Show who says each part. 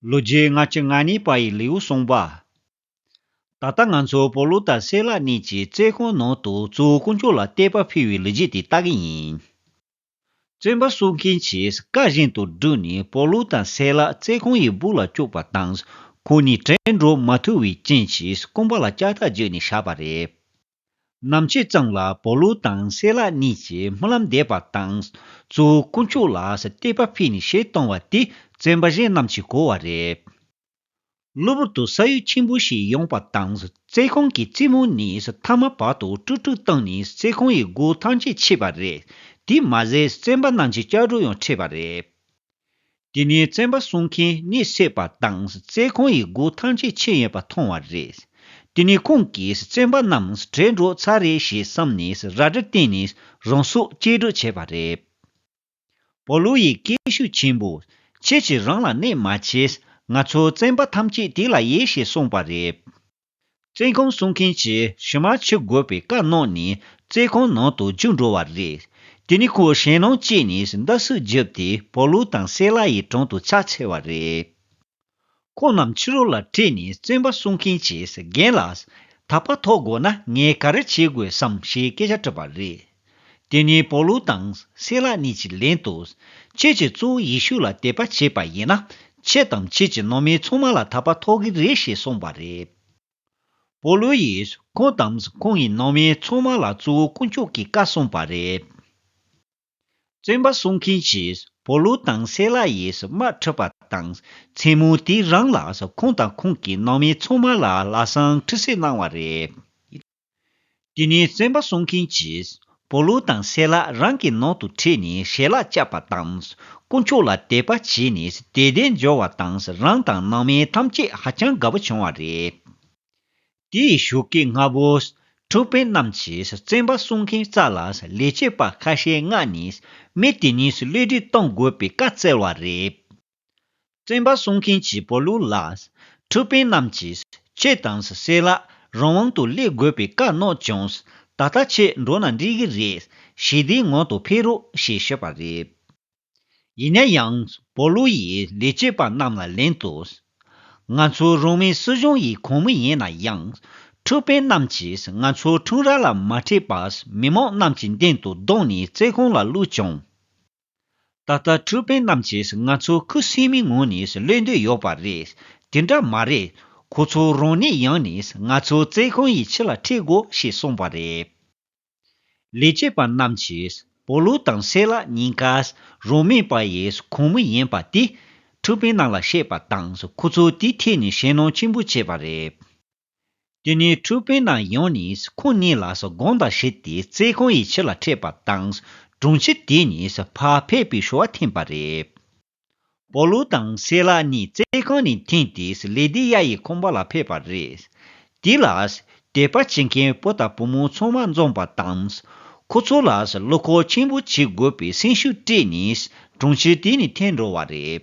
Speaker 1: ལོ་རྒྱུས་སྔ་ཕྱི་ལྔ་གཉིས་པ་ཡི་ལེའུ་གསུངས་པ། ད་ལྟ་ང་ཚོ་བོ་ལུག་དང་སེ་ལ་གཉིས་ཀྱི་རྩེ་དགོན་ནང་དུ་གཙོ་བོ་དཀོན་མཆོག་ལ་བསྟོད་པ་ཕུལ་བའི་ལོ་རྒྱུས་དེ་ལྟ་གི་ཡིན། བཙོན་པ་གསོ་མཁན་གྱིས་བཀའ་བཞིན་དུ་བསྒྲུབས་ནས་བོ་ལུག་དང་སེ་ལ་རྩེ་དགོན་ཡི་སྦུག་ལ་བཅུག་པ་དང་ཁོང་གཉིས་དྲན་འགྲོ་མ་ཐུབ་བའི་རྐྱེན་གྱིས་དཀོན་པ་ལ་ལྕགས་ཐག་བརྒྱུད་ནས་བཞག་པ་རེད། ནམ་ཕྱེད་ཙམ་ལ་བོ་ལུ་དང་བསེ་ལ་གཉིས་ཀྱིས་སྨོན་ལམ་འདེབས་པ་དང། གཙོ་བོ་དཀོན་མཆོག་ལ་བསྟོད་པ་ཕུལ་ནས་ཞལ་གཏོང་བ་དེ་བཙན་པ་གཞན་རྣམས་ཀྱིས་གོ་བ་རེད། གློ་བུར་དུ་ས་ཡུལ་ཆེན་པོ་ཞིག་ཡོང་པ་དང་རྩེ་གོང་གི་རྩེ་མོ་ནས་མཐའ་མ་བར་དུ་དཀྲུག་དཀྲུག་བཏང་ནས་རྩེ་གོང་ཡི་སྒོ་ཐམས་ཅད་ཕྱེས་པ་རེད། དེས་མ་ཟད་བཙན་པ་རྣམས་ཀྱི་སྐྱག་སྒྲོ་ཡང་ཁྲིད་པ་རེད། དེ་ནས་བཙན་པ་སྲུང་མཁན་གནས་བསད་པ་དང་བཙན་ཁང་ཡི་སྒོ་ཐམས་ཅད་ཕྱེ་ཡོད་པ་མཐོང་བ་རེད། དེ་ནས་ཁོང་གིས་བཙན་པ་རྣམས་བྲེལ་འགྲོ་ཚར་རེད་ཞེས་བསམ་ནས་རལ་གྲི་བསྟན་ནས་རང་སྲོག་བཅད་སྒྲུག་བྱས་པ་རེད། པའུ་ལུ་ཡིས་སྐད་ཤུགས་ཆེན་པོ། ཁྱེད་ཀྱིས་རང་ལ་གནས་མ་བྱས། ང་ཚོ་བཙན་པ་ཐམས་ཅད་དེ་ལ་ཡེ་ཞེས་གསུངས་པ་རེད། བཙན་ཁང་སྲུང་མཁན་གྱིས་ཕྱི་མར་ཕྱི་དགོས་པའི་བཀའ་གནང་ནས་བཙན་ཁང་ནང་དུ་བཅུག་འགྲོ་བ་རེད། དེ་ནས་ཁོས་ཞེད་སྣང་སྐྱེས་ནས་མདའ་གསོལ་བརྒྱབ་སྟེ་བོ་ལུ་དང་སེ་ལ་ཡི་དྲུང་དུ་ཕྱག་འཚལ་བ་རེད། ཁོ་རྣམས་ཕྱི་རོལ་ལ་ཁྲིད་ནས་བཙན་པ་སྲུང་མཁན་གྱིས་རྒན་ལགས། ད་བར་ཐོག་དགོས་ན་ངས་ག་རེ་བྱེད་དགོས་སམ་ཞེས་སྐད་ཆ་དྲིས་པ་རེད། དེ་ནས་པོ་ལུ་དང་སེ་ལ་གཉིས་ཀྱི་ལན་དུ། ཁྱེད་ཀྱིས་གཙོ་བོ་ཡེ་ཤུ་ལ་དད་པ་བྱས་པ་ཡིན་ན། ཁྱེད་དང་ཁྱེད་ཀྱི་ནང་མའི་ཚོང་མ་ལ་ཐར་པ་ཐོབ་གི་རེད་ཞེས་གསུངས་པ་རེད། པོ་ལུ་ཡིས་ཁོང་དང་ཁོང་གི་ནང་མའི་ཚོང་མ་ལ་གཙོ་བོ་དཀོན་མཆོག་གིས་བཀའ་གསུངས་པ་རེད། བཙོན་པ་གསོ་མཁན་གྱིས་པོ་ལུ་དང་སེ་ལ་ཡིས་དམག་ཁྲིད་པ་དང་མཚན་མོ་དེའི་རང་ལ་ཁོང་དང་ཁོང་གི་ནང་མའི་ཚོང་མ་ལ་ལག་ཟངས་ཁྲི་སྲིབ་གནང་བ་རེད། དེ་ནས་བཙོན་པ་སྲུང་མཁན་གྱིས་པོ་ལུ་དང་སེ་ལ་རང་གི་ནང་དུ་ཁྲིད་ནས་ཞལ་ལག་བཅག་པ་དང། དཀོན་མཆོག་ལ་དད་པ་བྱས་ནས་དད་ལྡན་འབྱོར་བ་དང་རང་དང་ནང་མི་ཐམས་ཅད་ཧ་ཅང་དགའ་པོ་བྱུང་བ་རེད། དེའི་བཞུགས་སྐྱེས་ལྔ་བོ། འཁྲུག་དཔོན་རྣམས་ཀྱིས་བཙོན་པ་སྲུང་མཁན་རྩ་ལ་ལས་བྱེད་པ་ཁ་ཤས་མངགས་ནས་མི་དེ་གཉིས་གློད་གྲོལ་གཏོང་དགོས་པའི་བཀའ་བསྩལ་བ་རེད། བཙན་པ་སྲུང་མཁན་གྱི་བོད་ལུགས་ལ། འཁྲུལ་དཔོན་རྣམས་ཀྱིས་ཁྱེད་དང་བསྲེས་ལ། རང་དབང་དུ་སླེབས་དགོས་པའི་བཀའ་གནང་ཀྱང། ད་ལྟ་ཁྱེད་འགྲོ་ན་འགྲིག་གི་རེད། ཞི་བདེའི་ངང་དུ་ཕེབས་རོགས་ཞེས་ཞུས་པ་རེད། ཡིན་ན་ཡང་བོད་ལུགས་ཡི་ལས་བྱེད་པ་རྣམས་ལ་ལན་དུ། ང་ཚོའི་རང་མིའི་སྲིད་གཞུང་ཡི་གོང་མི་ཡིན་ན་ཡང། འཁྲུལ་དཔོན་རྣམས་ཀྱིས་ང་ཚོའི་འཁྲུངས་ར་ལ་མ་ཁྲིད་པར་མི་མང་རྣམས་ཀྱི་མདུན་དུ་བརྡུང་ནས་རྩེད་ཁང་ལ་བླུགས་ཀྱང། ད་ལྟ་ཁྲུའུ་པེན་རྣམས་ཀྱིས་ང་ཚོ་ཁུ་སིམ་མེའི་ངང་ནས་གློད་འདོད་ཡོད་པ་རེད། དེ་འདྲ་མ་རེད། ཁོ་ཚོ་རང་ནས་ཡང་ནས་ང་ཚོ་བཙན་ཁང་ཡི་ཕྱི་ལ་འཁྲིད་དགོས་ཞེས་གསུངས་པ་རེད། ལས་བྱེད་པ་རྣམས་ཀྱིས་པོ་ལུ་དང་སེ་ལ་གཉིས་ཀ་རང་མེད་པ་ཡི་ཁོངས་མི་ཡིན་པ་དེ་ཁྲུའུ་པེན་རྣམས་ལ་བཤད་པ་དང་ཁོ་ཚོ་དེའི་ཐད་ནས་ཞེད་སྣང་ཆེན་པོ་བྱེད་པ་རེད། དེ་ནས་ཁྲུས་དཔོན་རྣམས་ཡོང་ནས་ཁོང་གཉིས་ལ་དགོངས་དག་བྱས་ཏེ་རྩེད་ཁང་ཡི་ཕྱི་ལ་འཁྲིད་པ་དང་དྲུང་ཆེ་དེ་གཉིས་ཕར་ཕེབས་པའི་ཞོར་བ་འཐེན་པ་རེད། པོ་ལོ་དང་སེ་ལ་གཉིས་རྩེད་ཁང་ནས་འཐེན་ཏེ་ལེ་དེ་ཡཱ་ཡི་ཁང་པ་ལ་ཕེབས་པ་རེད། དེ་ལ་དད་པ་བྱེད་མཁན་བུ་དང་བུ་མོ་ཚང་མ་འཛོམས་པ་དང། ཁོ་ཚོ་ལ་བློ་ཁོག་ཆེན་པོ་བྱེད་དགོས་པའི་སེམས་ཤུགས་སྤྲད་ནས་དྲུང་ཆེ་དེ་གཉིས་འཐེན་འགྲོ་བ་རེད།